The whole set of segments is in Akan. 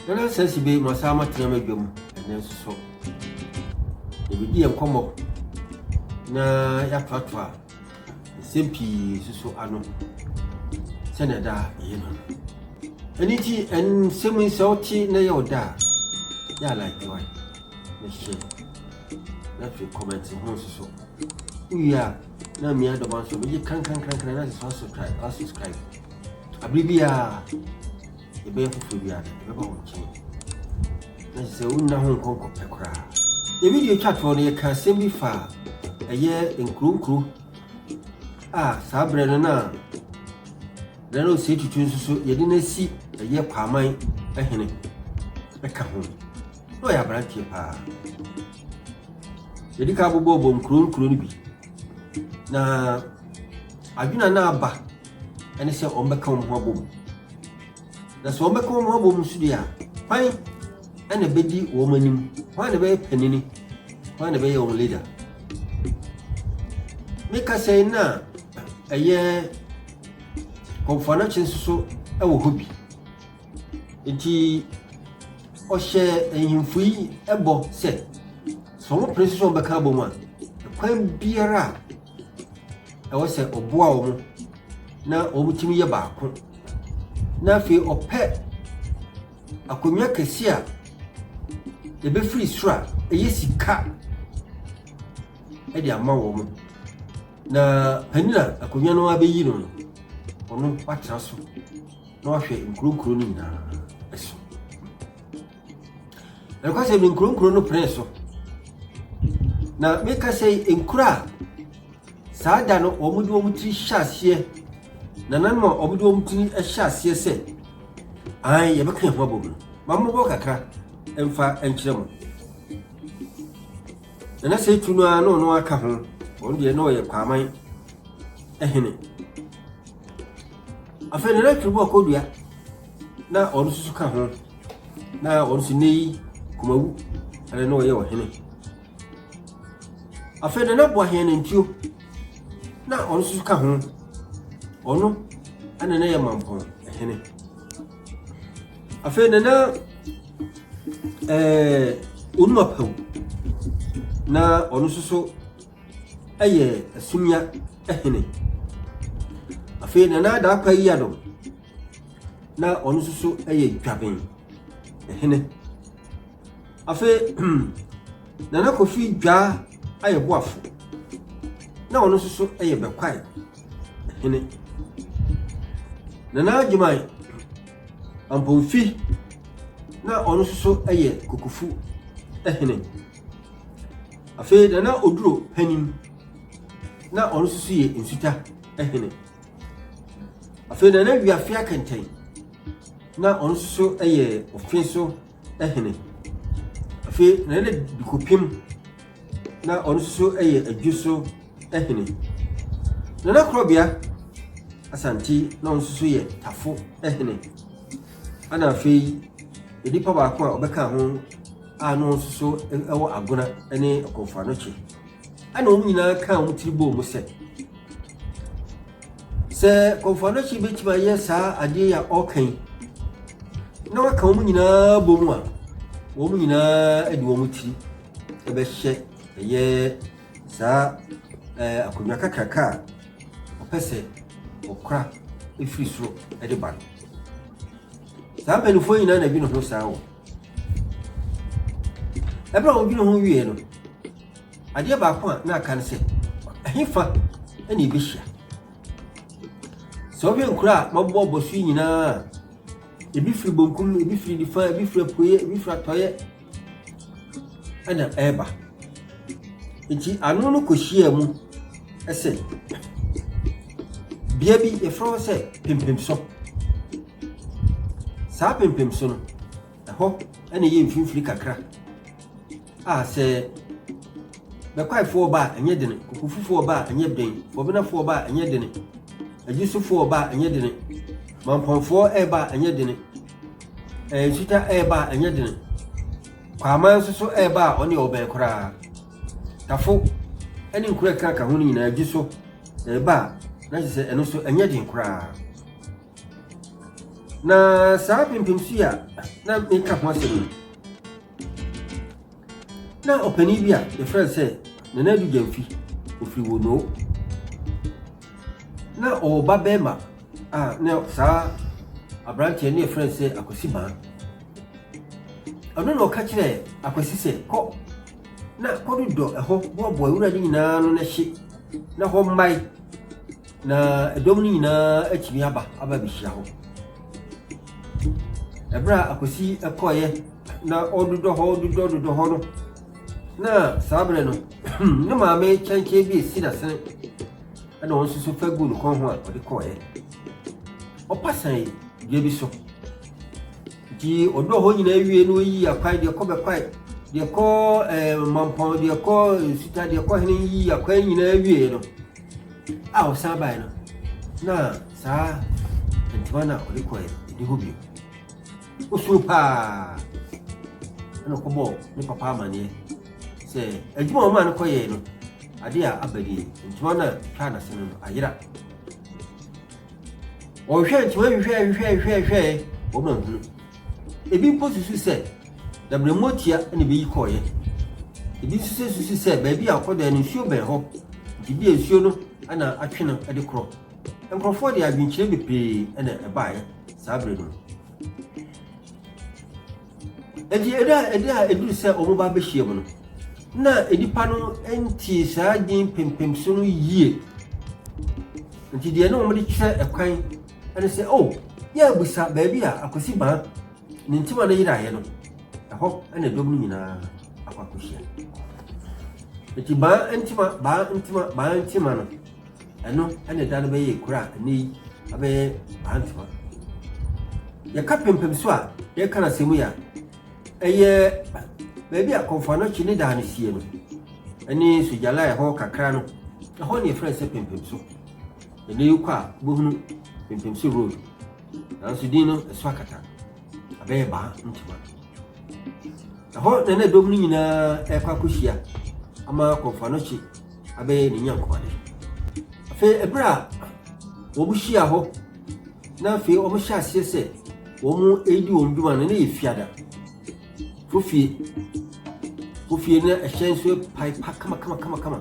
Nana sɛsi bɛ ma saa ma tena ma dwam ɛnɛ nso so. Ebi di yɛn kɔmɔ na yɛatoatoa nsɛm pii suso ano sɛnea ɛda yɛn no. Ɛno nti, nsɛm yi sɛ wote na ɛyɛ wo da a, yɛ a like wae na hyɛ na afei comment ho nsuso. Wowie a, na mmea dɔba nso megye kankankankan na sɛ subscribe, subscribe. Abere biara Yɛbɛyɛ foforɔ bi ade, yɛbɛba wo nkyɛn. Na kyerɛ sɛ wonna ho nkɔ nkɔpɛ koraa. Yɛ video twa toɔ no, yɛka asɛm bi fa ɛyɛ nkuro nkuro a saa berɛ no na General Osei Tutu nso so yɛde no asi ɛyɛ Kwaaman hene ɛka ho. Na ɔyɛ aberanteɛ paa. Yɛdi ka abobɔbɔ nkuro nkuro no bi. Na adwena no aba ɛne sɛ wɔbɛka wɔn ho abom na sɛ wɔbɛka wɔn ho abom nso deɛ a kwan ɛna ɛbɛdi wɔn anim wɔn na ɛbɛyɛ panini wɔn na ɛbɛyɛ wɔn leader ne kasa yi na ɛyɛ kɔnfɔnakye nso so ɛwɔ hɔ bi nti ɔhyɛ nhemfo yi ɛbɔ sɛ sɛ wɔn pere nso so wɔn bɛka abom a kwan biara a. ɛwɔ sɛ ɔboa wɔn na wɔtumi yɛ baako na afei ɔpɛ akonnwa kɛse a ɛbɛfiri soro a ɛyɛ sika de ama wɔn na panin a akonnwa no abɛyi no no ɔno watena so na wahwɛ nkurokuro no nyinaa so Na ɛkɔ sɛ me nkuro nkuro no pene so na meka sɛ nkuro a saa da no wɔn de wɔn tiri hyɛ aseɛ na nanom a wɔn de wɔn tiri hyɛ aseɛ sɛ an yɛbɛka yɛn ho abɔ mu no mammobɔ kakra mfa nkyerɛ mo na na sɛ tu no ara na ɔno aka ho wɔn deɛ na ɔyɛ kwaman ɛhene afei na na twere bɔ akɔdua na ɔno nso ka ho Na ɔno nso nnɛ yi Kumawu ɛna na ɔyɛ ɔhene. Afei Nana Boahen Nantuo na ɔno nso ka ho. Ɔno ɛna na yɛ Mampɔn hene. Afei Nana ɛɛ Onuma Pawu na ɔno nso so ɛyɛ Asumia hene. Afei Nana Adaakwa Yiadom na ɔno nso so yɛ dwaben hene afei nana kofi dwa ayɛ boafo na ɔno nso so yɛ bɛkwae hene nana adwuman ampomfi na ɔno nso so yɛ kukufu hene afei nana oduro panin na ɔno nso so yɛ nsuta hene Afei na na wiafe akɛntɛn, na ɔno nso so yɛ ɔfe so hene. Afei na na dikopim, na ɔno nso so yɛ adwo so hene. Na na korɔbea asante, na ɔno nso so yɛ tafo hene. Ana afei nipa baako a ɔbɛka ho a na ɔno nso so wɔ agona ne ɔkɔmfo anokye. Ɛnna wɔn nyinaa kaa wɔn tiri bɔɔ mu sɛ, Sɛ Kɔmfoanakyi bɛtumi ayɛ saa adeɛ yi a ɔreka yi na waka wɔn nyinaa bɔ mu a, wɔn nyinaa de wɔn tiri bɛhyɛ ɛyɛ saa ɛɛ akonnwa kakraka a ɔpɛ sɛ ɔkora firi soro de ba no. Saa mpanimfoɔ nyinaa na ɛdwene ho saa o. Ɛberɛ a wɔdwene ho wieeɛ no, adeɛ baako a na aka ne sɛ, ɛhefa na ɛbɛhyia? Sɛ wohwɛ nkuro a mabobɔbɔ so yi nyinaa a, ebi firi bonkum, ebi firi nifa, ebi firi apueɛ, ebi firi atɔeɛ, ɛna ɛreba. Nti ano no kɔhyia mu sɛ, bea bi yɛfrɛ hɔ sɛ Pempemso. Saa pempem so no, ɛhɔ na ɛyɛ mfimfini kakra a sɛ bɛkwaefoɔ ba a ɛnyɛ dene, kokofufoɔ ba a ɛnyɛ den, fɔbenafoɔ ba a ɛnyɛ dene, agyusufoɔ ba a ɛnyɛ dene, mampɔnfoɔ ɛreba a ɛnyɛ dene, ɛɛ nsuta ɛreba a ɛnyɛ dene, kwaaman nso so ɛreba a ɔne ɔbɛn koraa, tafo ɛne nkura ɛkaka ho no nyinaa gyi so ɛreba a na kyerɛ sɛ ɛno nso ɛnyɛ den koraa. Na saa pimpimso yi a na meka ho asɛm no, na ɔpanin bi a yɛfrɛ no sɛ Nana Adu Gyamfi, ɔfiri Wonoo. Na ɔwɔ ba bɛrima a na saa aberanteɛ ne yɛfrɛ no sɛ Akwasi Baa. Ɔno na ɔka kyerɛ Akwasi sɛ kɔ na kɔdodɔ ɛhɔ boaboa wura no nyinaa no na hye na hɔ mmae Na dɔm no nyinaa atumi aba aba abehyia hɔ. Ɛberɛ a Akwasi kɔeɛ na ɔdodɔ hɔ dodɔ dodɔ hɔ no, na saa berɛ no ne maame kyɛnkyɛn bi esi n'asene ɛna ɔno nso so fa gu ne kɔn ho a ɔde kɔeɛ. Ɔpa sɛn dua bi so. Nti ɔdodɔ hɔ nyinaa wie no ɔyi akwae deɛ kɔ bɛkwae deɛ kɔ ɛɛ eh, mampɔn deɛ kɔ nsuta deɛ kɔ hene yi akwae nyinaa wie no A ɔsan bae no, na saa ntoma no a ɔde kɔe no, ɛni hɔ bio. Osuro paa. Ɛna ɔkɔbɔɔ ne papa amanneɛ sɛ adwuma a ɔmaa no kɔyɛe no, ade a aba nie, ntoma no a twaa n'ase no no ayera. Ɔhwehwɛɛ ntoma hwehwɛɛ hwehwɛɛ hwehwɛɛ hwehwɛe, wɔma nhunu. Ebi mpo susu sɛ dabirɛmmoatia na ebeyi kɔeɛ. Ebi nso susu sɛ baabi a ɔkɔdae no nsuo bɛn hɔ, nti ebia nsuo no na atwe no de korɔ. Nkurɔfoɔ de adwenkyerɛ bebree na ɛbaeɛ saa bere no. Enti ɛda a ɛda a ɛduru sɛ wɔba abɛhyiam no, na nnipa no ntie saa din pempem so no yie. Nti deɛ na wɔde kyerɛ ɛkwan Ɛne sɛ, oh, yɛ abisa baabi a Akwasi Baa ne ntima no yeraeɛ no, ɛhɔ na dɔm no nyinaa akɔ akɔhyia. Eti Baa ntima, Baa ntima, Baa ntima no, ɛno ɛna da no bɛyɛ kura a ɛnɛ yi abɛyɛ Baa ntima. Yɛka pempem so a yɛka no asɛm yi a, ɛyɛ baabi a Kɔmfoanɔkye ne daa no sie no, ɛne Sogyala ɛhɔ kakra no, ɛhɔ ne yɛfrɛ sɛ pempem so. Bɛde yi kɔ a, wobɛhunu Pimpimso Road. Nanso din no, ɛso akata. Abɛyɛ baa ntoma. Ɛhɔ na na dɔm no nyinaa ɛrekɔ akɔhyia ama Kɔmfoanɔkye abɛyɛ ne nyankoade. Afei ɛberɛ a wɔhyia hɔ na afei wɔhyɛ aseɛ sɛ wɔredi wɔn dwuma no, na yɛ fiada. Fofie. Fofie na ɛhyɛn nso pae pa kama kama kama kama.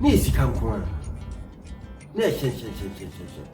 Na yɛ sika nko ara. Na yɛ hyɛnhyɛnhyɛnhyɛnhyɛn.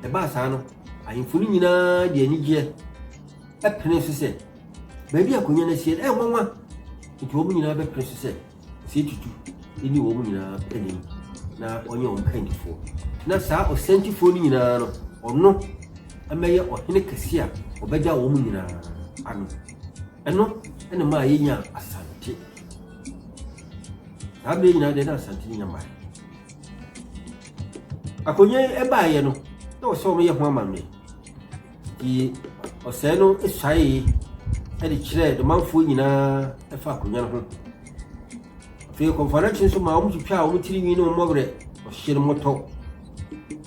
Ɛbaa saa no, ahemfo no nyinaa de anigyeɛ ɛpene so sɛ baabi a akonnwa no asie no ɛyɛ nwanwa. Nti wɔn nyinaa bɛpene so sɛ ɔsɛ tutu ɛni wɔn nyinaa anim na ɔnyɛ wɔn kandifoɔ. Na saa ɔsɛntifoɔ no nyinaa no ɔno ɛmɛyɛ ɔhene kɛse a ɔbɛgya wɔn nyinaa ano. Ɛno ɛna maa yɛnya asante. Saa bere nyinaa deɛ na Asante nya mmae. Akonnwa yi ɛbaeɛ no, na wɔsɛ wɔn yɛ ho amanneɛ. Nti ɔsɛe no suaeɛ ɛde kyerɛɛ domanfoɔ nyinaa ɛfa akonnwa no ho. Afei kɔnfanakye nso maa wɔn twitwaa wɔn tiri nwi ne wɔn mmɔwerɛ, ɔhyɛ no mmɔtɔ.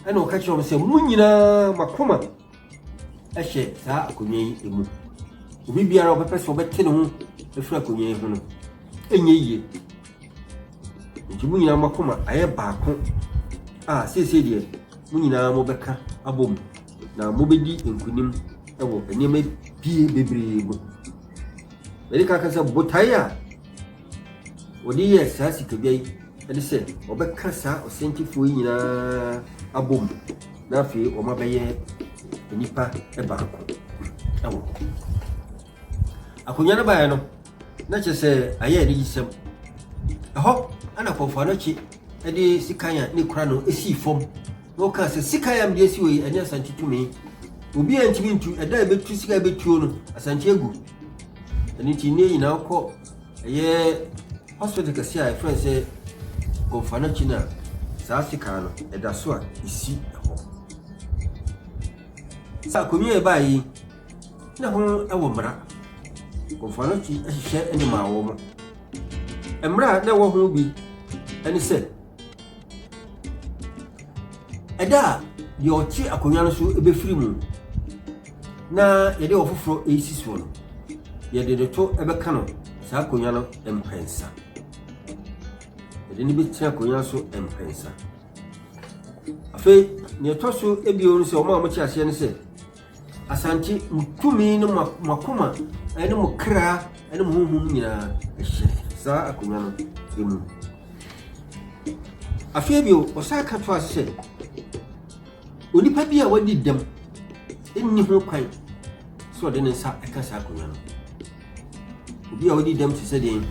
Ɛna ɔka kyerɛ wɔn sɛ, mo nyinaa mo akoma hyɛ saa akonnwa yi mu. Obi biara a ɔbɛpɛ sɛ ɔbɛte ne ho afiri akonnwa yi ho no, ɛnyɛ yie. Nti mo nyinaa moakoma ayɛ baako a seesei deɛ mo nyinaa mobɛka abɔ mu na mobɛdi nkonim wɔ nneɛma pie bebree mu. Mede ka ka sɛ botae a Wɔde yɛɛ saa sikadwa yi ne sɛ wɔbɛka saa ɔsɛnkyefoɔ yi nyinaa abom na afei wɔabɛyɛ nnipa baako wɔ hɔ. Akonnwa no baeɛ no, na kyerɛ sɛ ayɛ anigyesɛm. Ɛhɔ na Kɔmfo Anokye de sekan a ne kura no sii fam na ɔkaa sɛ sekan a mede asi wɔ yi, ɛne Asante tumi. Obi a ntumi ntu, ɛda a ɛbɛtu sika a ɛbɛtuo no, Asante agu. Ɛno nti, nnɛ nyinaa wokɔ Ɛyɛ hospital kɛse a yɛfrɛ no sɛ Gonfanakyi no a saa sekaa no ɛda so a ɛsi hɔ. Sɛ akonnwa a ɛbaa yi na ho wɔ mmara. Gonfanakyi hyehyɛ ne maa wɔn. Mmara a na ɛwɔ ho bi ne sɛ ɛda a deɛ ɔte akonnwa no so bɛfiri mu na yɛde ɔfoforɔ resi soɔ no, yɛde no to bɛka no saa akonnwa no mprɛnsa. Yɛde no bɛtena akonnwa so mprɛnsa. Afei, nea ɛtɔ so ebio no sɛ wɔn a wɔte aseɛ no sɛ, Asante, mo tumi ne mo akoma ne mo kra ne mo honhom nyinaa hyɛ saa akonnwa no mu. Afei bio, ɔsan ka to ase sɛ, Onipa bi a wadi dɛm nni ho kwan sɛ ɔde ne nsa ka saa akonnwa no. Obi a wadi dɛm te sɛ deɛn?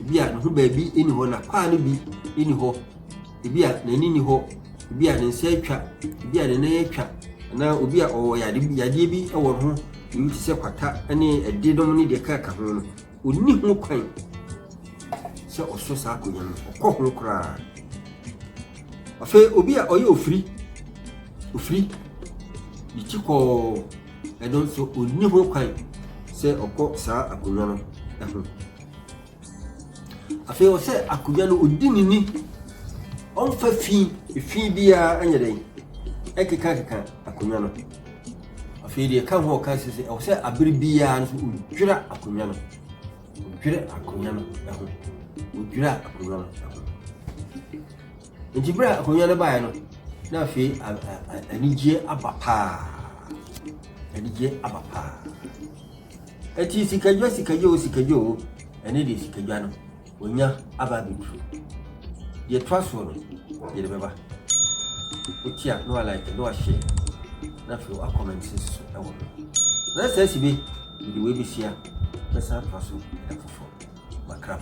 Ebi a ne ho baabi nni hɔ, n'akwaa no bi nni hɔ, ebi a n'ani nni hɔ, ebi a ne nsa atwa, ebi a ne nan atwa, anaa obi a ɔwɔ yade yadeɛ bi wɔ ne ho, ebi te sɛ kwata ne ɛdenom ne deɛ ɛkeka ho no. Onni ho kwan sɛ ɔsɔ saa akonnwa no, ɔkɔ ho koraa. Afei obi a ɔyɛ ofiri, ofiri, ne ti kɔɔ, ɛno nso onni ho kwan sɛ ɔkɔ saa akonnwa no ho. Afei ɔsɛ akonnwa no odi ne ni, ɔmfa fi, fi biara nyɛ dɛn, ɛkekakeka akonnwa no. Afei deɛ ɛka ho a ɔka sɛ ɛwɔ sɛ abere biara nso odwira akonnwa no odwira akonnwa no ho odwira akonnwa no ho nti bere a akonnwa no baeɛ no na afei anigyeɛ aba paa anigyeɛ aba paa ɛti sikadwa sikadwa o sikadwa o ɛne deɛ sikadwa no Onya aba abɛduru. Deɛ ɛtoa soɔ no, yɛde bɛba. Wotia na wa like na wa share na afei wa comment nso ɛwɔ ho. Na sɛ asi bi, mede wei bɛhyia bɛsan atoa so ɛda foforɔ. Makram.